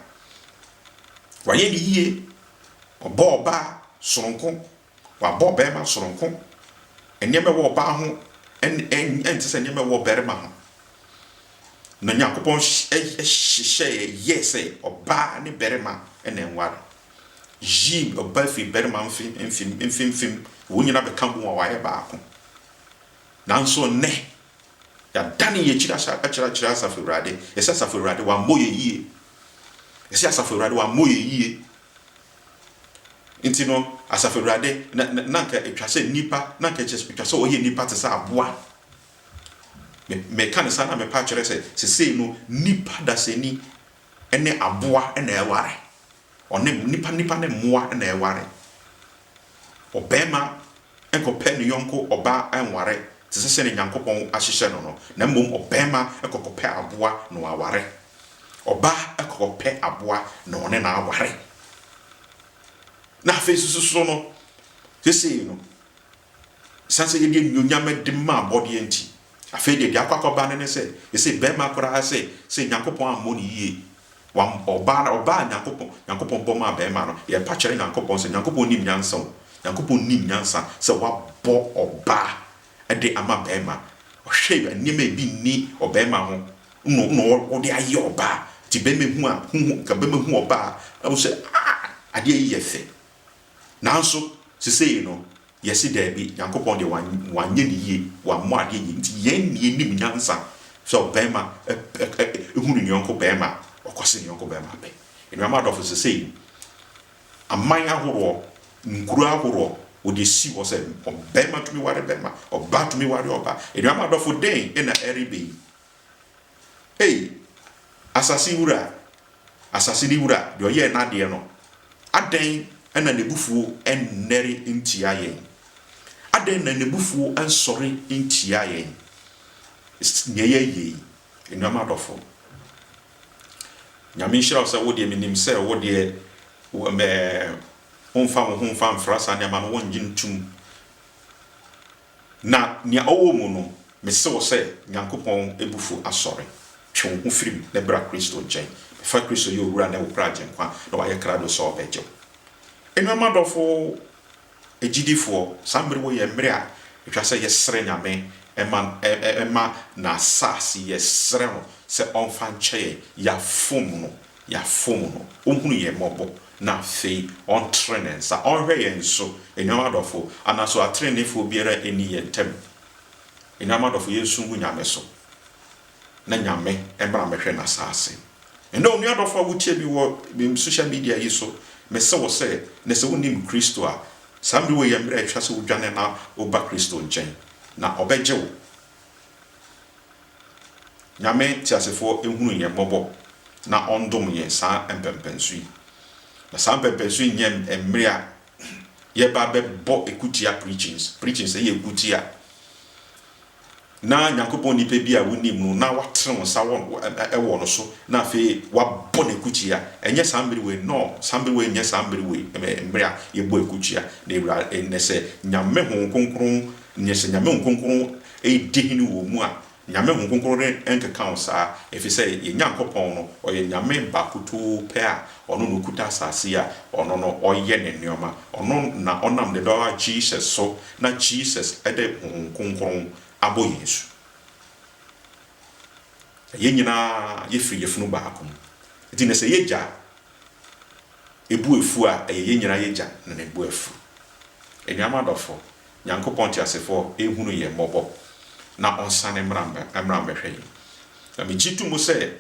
Wayɛ ne yie, ɔbɔɔ ɔbaa sononko, wabɔ ɔbarima sononko. Nneɛma ɛwɔ ɔbaa ho ɛnte sɛ nneɛma ɛwɔ ɔbarima ho. Na Nyankopɔn hyehyɛɛ yɛɛ sɛ ɔbaa ne barima na ɛnware. Yii ɔbaa firi barima mfimfim, wɔn nyinaa bɛka boom a wɔayɛ baako. Nanso nnɛ, yɛadane yɛn akyiri akyerɛ akyerɛ Asafo Awurade. Yɛse Asafo Awurade wammɔ yɛn yie. Yɛse Asafo Awurade wammɔ yɛn yie. Nti no, Asafo Awurade, na, na, na nka ɛtwa sɛ nnipa, na nka ɛtwa sɛ wɔyɛ nnipa te sɛ aboa. Me, meka ne saa na mepa akyerɛ sɛ, sesei no, nnipa dasani ne aboa na ɛware. Ɔne, nnipa, nnipa ne mmoa na ɛware. Ɔbarima nkɔpɛ ne yɔnko ɔbaa nware te sɛ sɛdeɛ Nyankopɔn ahyehyɛ no no, na mmom ɔbarima kɔkɔpɛ aboa na waware. Ɔbaa kɔkɔpɛ aboa na ɔne no aware. Na afei nso so so no, sesei no, ɛsiane sɛ yɛde anuonyam de ma abɔdeɛ nti, afei deɛ deɛ akɔ akɔba no ne sɛ, sesei barima koraa sɛ, sɛ Nyankopɔn ammɔ no yie Wam, ɔbaa no, ɔbaa Nyankopɔn, Nyankopɔn bɔ maa bɛɛma no, yɛpa kyɛrɛ Nyankopɔn sɛ Nyankopɔn nim nyansa o, Nyankopɔn nim nyansa sɛ wabɔ ɔbaa ɛde ama bɛɛma, ɔhwɛ nneɛma a ebi nni ɔbɛɛma ho no na ɔde ayɛ ɔbaa, nti bɛɛma hu a, hu, hu, nka bɛɛma hu ɔbaa a, ɛhu sɛ aah, adeɛ yi yɛ fɛ, Nanso, sesei no, yɛse daabi, Nyankopɔn deɛ wanyɛ no yie, wammɔ adeɛ yie, nti yɛn ne yɛnim nyansa sɛ ɔbarima hu ne yɔnko barima a, ɔkɔse ne yɔnko barima pɛ. Anuanom adɔfo, sesei no, aman ahoroɔ, nkuro ahoroɔ, wɔde asi hɔ sɛ ɔbarima tumi ware barima, ɔbaa tumi ware ɔbaa. Anuanom adɔfo, dɛn na ɛreba yi? Ei, asase wura, asase no wura, deɛ ɔyɛɛ n'adeɛ no, adɛn na n'abufuo nnɛre ntia yɛn? Adɛn na n'abufuo nsɔre ntia yɛn? Nea ɛyɛ yei, anuanom adɔfo, Nyame nhyira wo sɛ wo deɛ menim sɛ wo deɛ ɛɛ womfa wo ho mfa mfra saa nneɛma no, wonnye ntom. Na nea ɔwɔ mu no, mise wo sɛ, Nyankopɔn abufuo asɔre. Twe wo ho firi mu na bra Kristo nkyɛn. Bɛfa Kristo yɛ Owura ne wo Pra Agyenkwa na wayɛ krado sɛ ɔbɛgye wo. Anuanom adɔfo agyidifoɔ, saa mmere wɔ yɛ mmere a ɛtwa sɛ yɛsrɛ Nyame ma ma N'asase, yɛsrɛ No sɛ ɔmfa nkyɛ yɛn, yɛafom No, yɛafom no, ɔhunu yɛn mmɔbɔ, na afei ɔntene ne nsa ɔnhwɛ yɛn so. Anuanom adɔfoɔ, ana so ateneneefoɔ biara nni yɛn ntam? Anuanom adɔfoɔ, yɛnsu ngu Nyame so, na Nyame mmra mmɛhwɛ N'asaase. Ɛnnɛ, onua dɔfoɔ a wotie me wɔ me social media yi so, mese wo sɛ, na sɛ wonnim Kristo a, saa mmerɛ wei yɛ mmerɛ a ɛtwa sɛ wodwane na woba Kristo nkyɛn, na Ɔbɛgye wo. Nyame teasefoɔ nhunu yɛn mmɔbɔ na ɔndom yɛn saa mpɛnpɛnso yi. Na saa mpɛnpɛnso yi nyɛ mmere a yɛba bɛbɔ ɛkutia preachings, preachings ɛyɛ ɛkutia. Na Nyankopɔn nipa bi a wonim no na watene wo nsa wɔ no so na afei wabɔ no ɛkutia. Ɛnyɛ saa mmere wei, no, saa mmere wei nyɛ saa mmere wei, mmere a yɛbɔ ɛkutia. Na ɛwura, ɛnɛ sɛ Nyame Honhom Kronkron Nea sɛ Nyame Honhom Kronkron redi hene wɔ wo mu a, Nyame Honhom Kronkron renkeka wo saa, efisɛ yɛn Nyankopɔn no, ɔyɛ Nyame baakotoo pɛ a ɔno na okuta asase yi a ɔno no ɔyɛ ne nneɛma. Ɔno na ɔnam ne Ba Jesus so na Jesus de Honhom Kronkron abɔ yɛn asu. Na yɛn nyinaa yɛfiri yafunu baako mu. Nti na sɛ y'agya bu afuo a, ɛyɛ yɛn nyinaa y'agya na ne bo afu. Anuanom adɔfo, Nyankopɔn teasefoɔ nhunu yɛn mmɔbɔ na ɔnsane mmra mmra mmɛhwɛ yɛn. Na megye to mu sɛ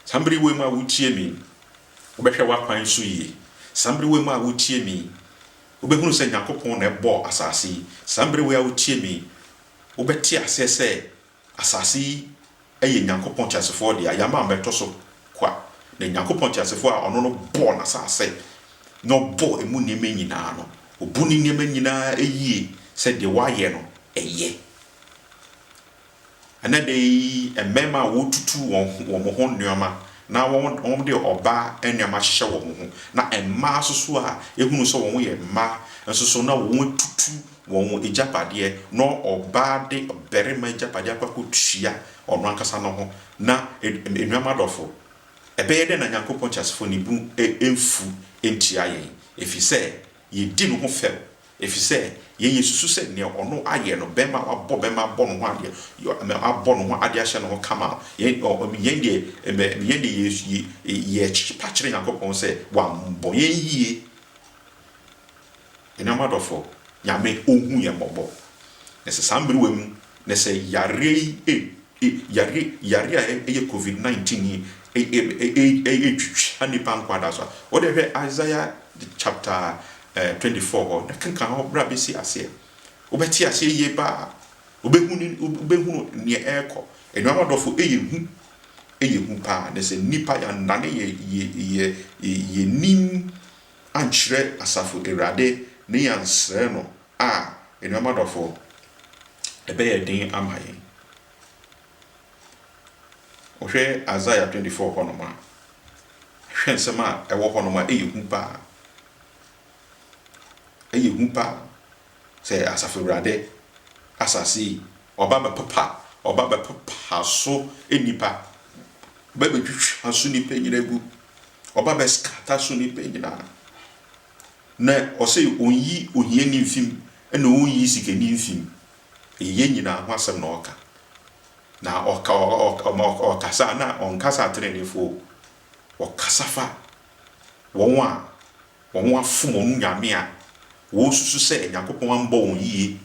saa mmere wei mu a wotie me yi, wobɛhwɛ w'akwan so yie. Saa mmere wei mu a wotie me yi, wobɛhunu sɛ Nyankopɔn na ɛbɔɔ asaase yi. Saa mmere wei a wotie me yi, wobɛte aseɛ sɛ Asase yi yɛ Nyankopɔn teasefoɔ dea, yɛama abɛtɔ so kwa, na Nyankopɔn teasefoɔ a Ɔno no bɔɔ n'asase na Ɔbɔɔ emu nneɛma nyinaa no, Obu ne nneɛma nyinaa yie sɛ deɛ Wayɛ no yɛ. Ɛnnɛ da yi, mmarima a wɔtutu wɔn ho, wɔn ho nneɛma na wɔn, wɔde ɔbaa nneɛma hyehyɛ wɔn ho, na mmaa nso so a yɛhunu sɛ wɔn yɛ mmaa nso so na wɔatutu wɔn agyapadeɛ na ɔbaa de ɔbarima agyapadeɛ akɔ akɔtua ɔno ankasa no ho. Na, anuanom adɔfo, ɛbɛyɛ dɛn na Onyankopɔn teasefoɔ no bo remfu ntia yɛn ɛfiri sɛ yɛdi ne ho fɛw? Ɛfiri sɛ yɛn yɛsusu sɛ deɛ ɔno ayɛ no, barima a wabɔ barima abɔ ne ho adeɛ, abɔ ne ho adeɛ ahyɛ ne ho kama no, yɛn deɛ yɛkyepa kyerɛ Onyankopɔn sɛ wammɔ yɛn yie. Anuanom adɔfo, Nyame ohu yɛn mmɔbɔ. Na sɛ saa mmerewa mu, na sɛ yareɛ yi e, e, yareɛ, yareɛ a ɛyɛ covid 19 yi e, e, e, e, etwitwa nnipa nkwadaa so a, wo deɛ hwɛ Isaiah chapter eh, 24 hɔ, na kenkan hɔ berɛ a bɛsi aseɛ. Wobɛte aseɛ yie paa. Wobɛhu ne, wobɛhunu neɛ ɛrekɔ. Anuanom adɔfo, ɛyɛ hu. Ɛyɛ hu paa. Na sɛ nnipa yɛannane yɛ, yɛ, yɛ, yɛ, yɛ nim ankyerɛ asafo Awurade ne yɛansrɛ no a, anuanom adɔfoɔ, ɛbɛyɛ den ama yɛn. Wohwɛ Isaiah 24 hɔnom a, hwɛ nsɛm a ɛwɔ hɔnom a, ɛyɛ hu paa. Ɛyɛ hu paa sɛ asafo Awurade asase yi, ɔba bɛpopa, ɔba bɛpopa so nnipa, ɔba bɛtwitwa so nnipa nyina gu. ɔba bɛskata so nnipa nyinaa, na ɔse ɔnyi ohiani mfi mu, ɛna ɔnyi sikani mfi mu, yɛn nyinaa ho asɛm na ɔka, na ɔka, ɔkasa a na ɔnkasa atenenefoɔ o, ɔkasa fa wɔn a wɔn ho afom wɔn nyame a wɔsusu sɛ Nyankopɔn ambɔ wɔn yie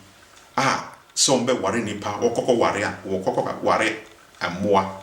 a sɛ wɔbɛware nnipa, wɔkɔkɔware a, wɔkɔkɔware mmoa.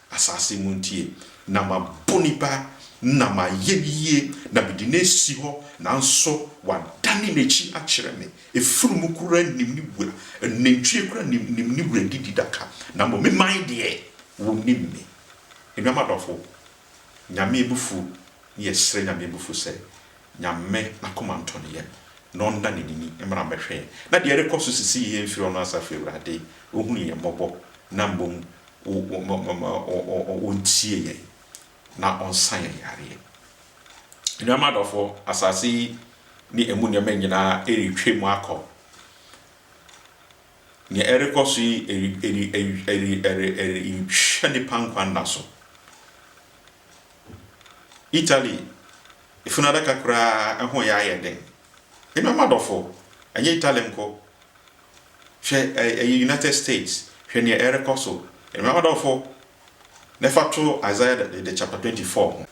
Asase muntie, na mabɔ onipa, na mayɛ no yie, na mede no asi hɔ, nanso wadane n'akyi akyerɛ me. Afunumu koraa nnim ne wura, nantwie koraa nnim ne wura adididaka, na mmom me man deɛ, wɔnim me. Anuanom adɔfo, Nyame abufuo, ne yɛsrɛ Nyame abufuo sɛ Nyame n'akoma ntɔ ne yam, na ɔnna n'anini mmra mmɛhwɛ yɛn, na deɛ ɛrekɔ so sisi yi yɛmfiri ɔno asafo Awurade, ɔhunu yɛn mmɔbɔ, na mmom ɔntie yɛn na ɔnsa yɛn yareɛ. Anuanom adɔfoɔ, asase yi ne ɛmu nneɛma nyinaa ɛretwam akɔ. Deɛ ɛrekɔ so yi ɛretwa nnipa nkwa nna so. Italy funu adaka koraa ho reyɛ ayɛ den. Anuanom adɔfoɔ, ɛnyɛ Italy nko, Hwɛ ɛ, ɛyɛ United States, hwɛ nea ɛrekɔ so. Anuanom adɔfo, na fa to Isaiah the, the chapter 24 ho.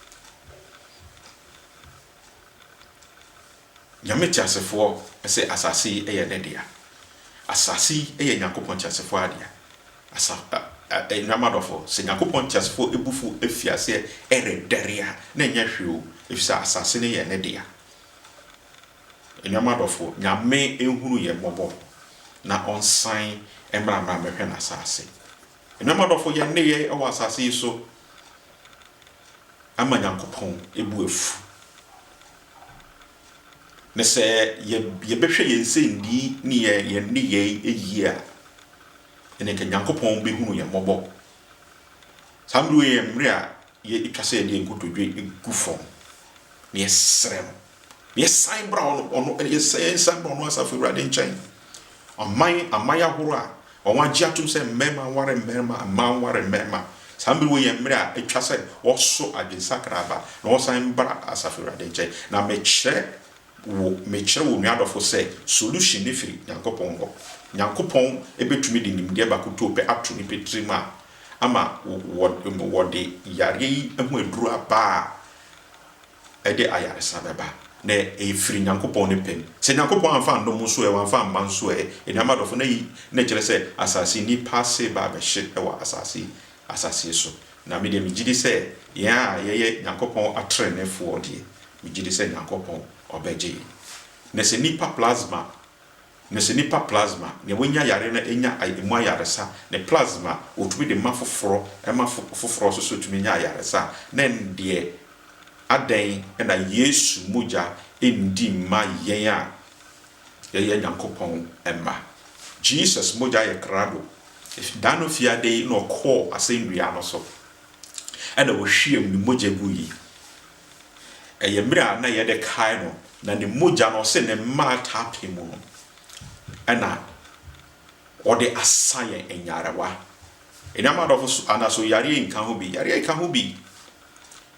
Nyame teasefoɔ se asase yi yɛ Ne dea. Asase yi yɛ Nyankopɔn teasefoɔ adea. Asa, ɛ, ɛ, anuanom adɔfo, sɛ Nyankopɔn teasefoɔ abufuo afi aseɛ redɛre a, na ɛnyɛ hwee o, efisɛ asase no yɛ Ne dea. Anuanom adɔfoɔ, Nyame nhunu yɛn mmɔbɔ na ɔnsan mmra mmra mmɛhwɛ n'asaase. Anuanom adɔfoɔ, yɛn nneyɛɛ wɔ asaase yi so ama Nyankopɔn bo afu. Na sɛ yɛbɛhwɛ yɛn nsɛnnii ne yɛn nneyɛɛ yie a, ɛnneɛ nka Nyankopɔn bɛhunu yɛn mmɔbɔ. Saa mmerɛ yi yɛ mmerɛ a ɛtwa sɛ yɛde yɛn nkotodwe gu fam na yɛsrɛ no. Yɛsan bra ɔno, ɔno, yɛsan, yɛsan bra ɔno Asafo Awurade nkyɛn. Aman, aman ahorow a wɔagye atom sɛ mmarima nware mmarima, mmaa nware mmarima. Saa mmere wei yɛ mmere a etwa sɛ wɔso adwensakra aba na wɔsan bra Asafo Awurade nkyɛn. Na mekyerɛ wo, mekyerɛ wo nua dɔfo sɛ solution no firi Nyankopɔn hɔ. Nyankopɔn betumi de nimdeɛ baako tuo pɛ ato nnipa tirim a ama wɔ, wɔde yareɛ yi ho aduru aba a, ɛde ayaresa bɛba, na ɛfiri Nyankopɔn ne pɛ mu. Sɛ Nyankopɔn amfa annɔ mo so ɛ, wamfa amma nso ɛ, anuanom adɔfo, na yei na ɛkyerɛ sɛ asase nnipa ase ba abɛhye wɔ asase asase so. Na me deɛ, megye di sɛ yɛn a yɛyɛ Nyankopɔn atreneefoɔ deɛ, megye di sɛ Nyankopɔn ɔbɛgye yɛn. Na sɛ nnipa plasma. Mise nipa plasma, nea wanya yare na enya emu ayaresa, ne plasma a wɔtumi de ma foforɔ ma foforɔ nso so tumi nya ayaresa a, na ɛndeɛ adɛn na Yesu mogya nndi mma yɛn a yɛyɛ Nyankopɔn mma? Jesus mogya yɛ krado. Da no fiada yi na ɔkɔɔ asɛnnua no so na ɔhwiam ne mogya gui. Ɛyɛ mmerɛ a na yɛde kae no, na ne mogya no ɔse ne mma ataa pɛ mu no ɛna ɔde asa yɛn nyarewa. Nnuama adɔfo so anaso yareɛ yi nka ho bi? Yareɛ yi ka ho bi.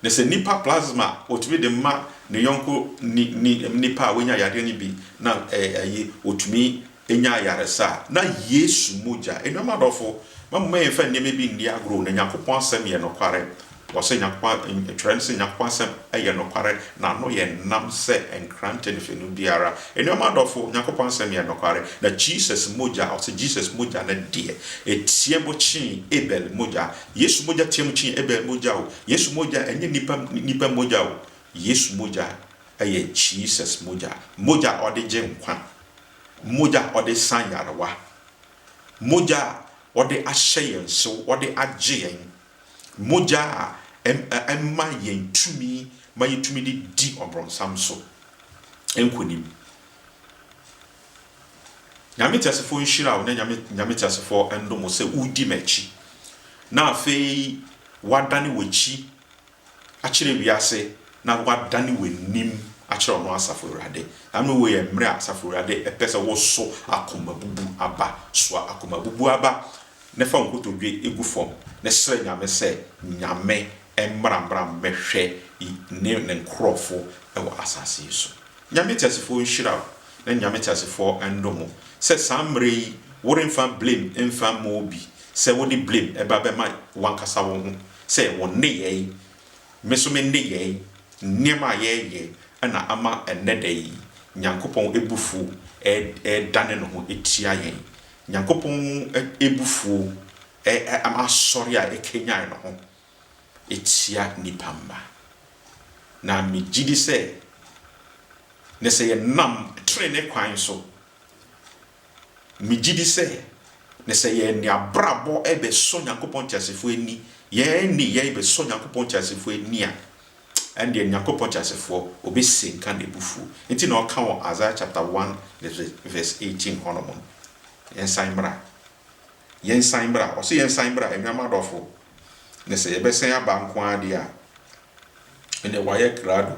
Na sɛ nipa plasma ɔtumi de ma ne yɔnko ni, ni, nipa a wanya yareɛ no bi na ɛyi ɔtumi nya ayaresa a, na Yesu mogya. Anuanom adɔfo, mma momma yɛmfa nneɛma bi nni agorɔ. Na Nyankopɔn Asɛm yɛ nokware. Wɔse Nyankopɔn, Twerɛ no se Nyankopɔn Asɛm yɛ nokware, na ano yɛ nnam sɛ nkrante ne fanu biara. Anuanom adɔfo, Nyankopɔn Asɛm yɛ nokware, na Jesus mogya, wɔse Jesus mogya no deɛ, ɛteam kyee Abel mogya. Yesu mogya team kyee Abel mogya o. Yesu mogya, ɛnyɛ nnipa, nnipa mogya o. Yesu mogya yɛ Jesus mogya. Mogya a ɔde gye nkwa. Mogya a wɔde sa nyarewa. Mogya a wɔde ahyɛ yɛn so, wɔde agye yɛn. Mogya a ɛma yɛn tumi ma yɛtumi de di ɔbrɔnsam so nkonim. Nyame teasefoɔ nhyira wo na Nyame, Nyame teasefoɔ ndom wo sɛ wodi m'akyi na afei wadane w'akyi akyerɛ wiase na woadane w'anim akyerɛ ɔno Asafo Awurade. Saa mmerɛ woi yɛ mmerɛ a Asafo Awurade pɛ sɛ woso akomabubu aba. Soa akomabubu aba na fa wo nkotodwe gu fam na srɛ Nyame sɛ Nyame mmra mmra mmɛhwɛ ne ne nkorɔfo wɔ asase yi so. Nyame teasefoɔ nhyira wo na Nyame teasefoɔ ndom wo sɛ saa mmerɛ yi woremfa blame mfa mma obi sɛ wode blame ba bɛma wankasa wo ho sɛ wɔn nneyɛe, me nso me nneyɛe, nneɛma a yɛreyɛ na ama ɛnnɛ da yi Nyankopɔn abufuo redane ne ho atia yɛn. Nyankopɔn abufuo asɔre a ɛkanyan ne ho atia nnipa mma. Na megye di sɛ, na sɛ yɛnam trenee kwan so Megye di sɛ, na sɛ yɛn abrabɔ bɛsɔ Nyankopɔn teasefo ani, yɛn nneyɛe bɛsɔ Nyankopɔn teasefo ani a, ɛnneɛ Nyankopɔn teasefo, ɔbɛsianka n'abufuo. Enti na ɔka wɔ Isaiah chapter one verse eighteen hɔ nom no, Yɛnsan mmra, yɛnsan mmra, ɔse yɛnsan mmra, anuanom adɔfo, na sɛ yɛbɛsan aba nko ara deɛ a, ɛnneɛ wayɛ krado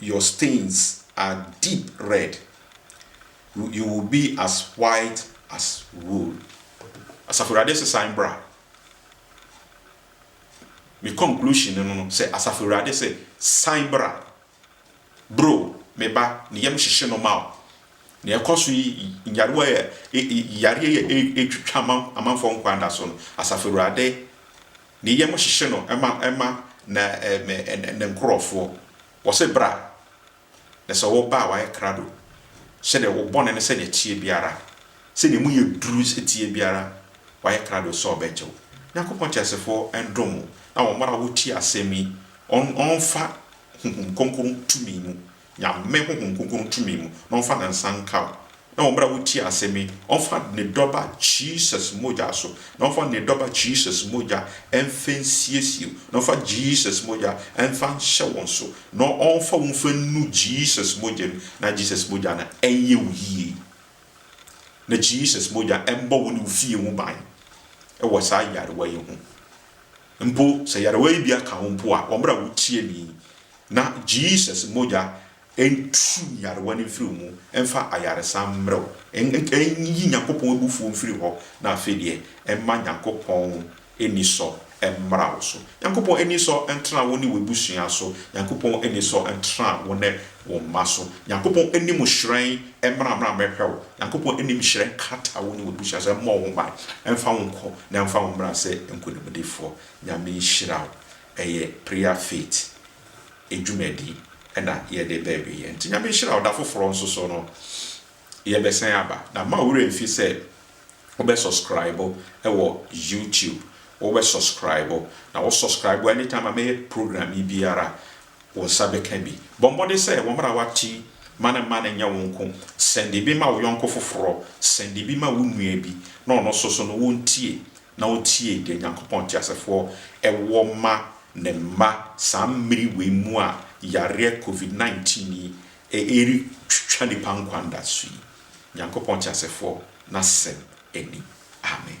Your stains are deep red, you will be as white as wool. Asafo Awurade se san bra. Me conclusion no no sɛ Asafo Awurade se san bra. Bro, me ba, ne yam hyehye no ma wo. Nea ɛkɔ so yi, nyarewa a, yareɛ yi a ɛretwitwa amanfoɔ nkwa da so no, Asafo Awurade Ne yam hyehye no ma ma na ne nkurɔfoɔ. Wɔse, Bra! Na sɛ wɔba a wɔayɛ krado, sɛdeɛ wo bɔne no sɛdeɛ ɛteɛ biara, sɛdeɛ emu yɛ duru teɛ biara, wɔayɛ krado sɛ wɔbɛgye wo. Nyankopɔn teasefoɔ ndom mo, na wɔn a wɔtie asɛm yi, wɔn wɔmfa Honhom Kronkron tumi mu, Nyame honhom kronkron tumi mu na ɔmfa ne nsa nka wo na wɔ mmerɛ a wotie asɛm yi ɔmfa ne dɔba Jesus mogya so na ɔmfa ne dɔba Jesus mogya mfa nsiesie wo na ɔmfa Jesus mogya mfa nhyɛ wo nso na ɔmfa wo mfa nnu Jesus mogya mu na Jesus mogya no ɛnyɛ wo yie na Jesus mogya mbɔ wo ne wo fie ho ban wɔ saa yarewa yi ho mpo sɛ yarewa yi bi aka wo mpo a wɔ mmerɛ a wotie me yi Na Jesus mogya nturu nyarewa no mfiri wo mu, mfa ayaresa mmerɛ wo, nyi Nyankopɔn abufuo mfiri hɔ, na afei deɛ mma Nyankopɔn anisɔ mmra wo so. Nyankopɔn anisɔ ntena wo ne w'abusua so, Nyankopɔn anisɔ ntena wo ne wo mma so, Nyankopɔn anim hyerɛn mmra mmra mmɛhwɛ wo, Nyankopɔn anim hyerɛn nkata wo ne w'abusua so, mmɔ wo ho ban, mfa wo nkɔ na mfa wo mmra sɛ nkonimdifoɔ. Nyame nhyira wo. ɛyɛ Prayer Fit dwumadi na yɛde reba awieɛ. Nti Nyame nhyira wo da foforɔ nso so no yɛbɛsan aba. Na mma wo werɛ mfi sɛ wobɛ subscribe wɔ YouTube, wobɛ subscribe na wo subscribe a anytime a mɛyɛ program yi biara wo nsa bɛka bi. Bɔ mmɔden sɛ wɔ mmerɛ a woate yi ma no mma no nyɛ wo nko, send bi ma wo yɔnko foforɔ, send bi ma wo nua bi na ɔno nso so no ɔntie na otie deɛ Nyankopɔn teasefoɔ wɔ ma Ne mma saa mmere wei mu a yareɛ Covid 19 yi ɛretwitwa nnipa nkwa nda so yi. Nyankopɔn teasefoɔ n'asɛm ni. Amen.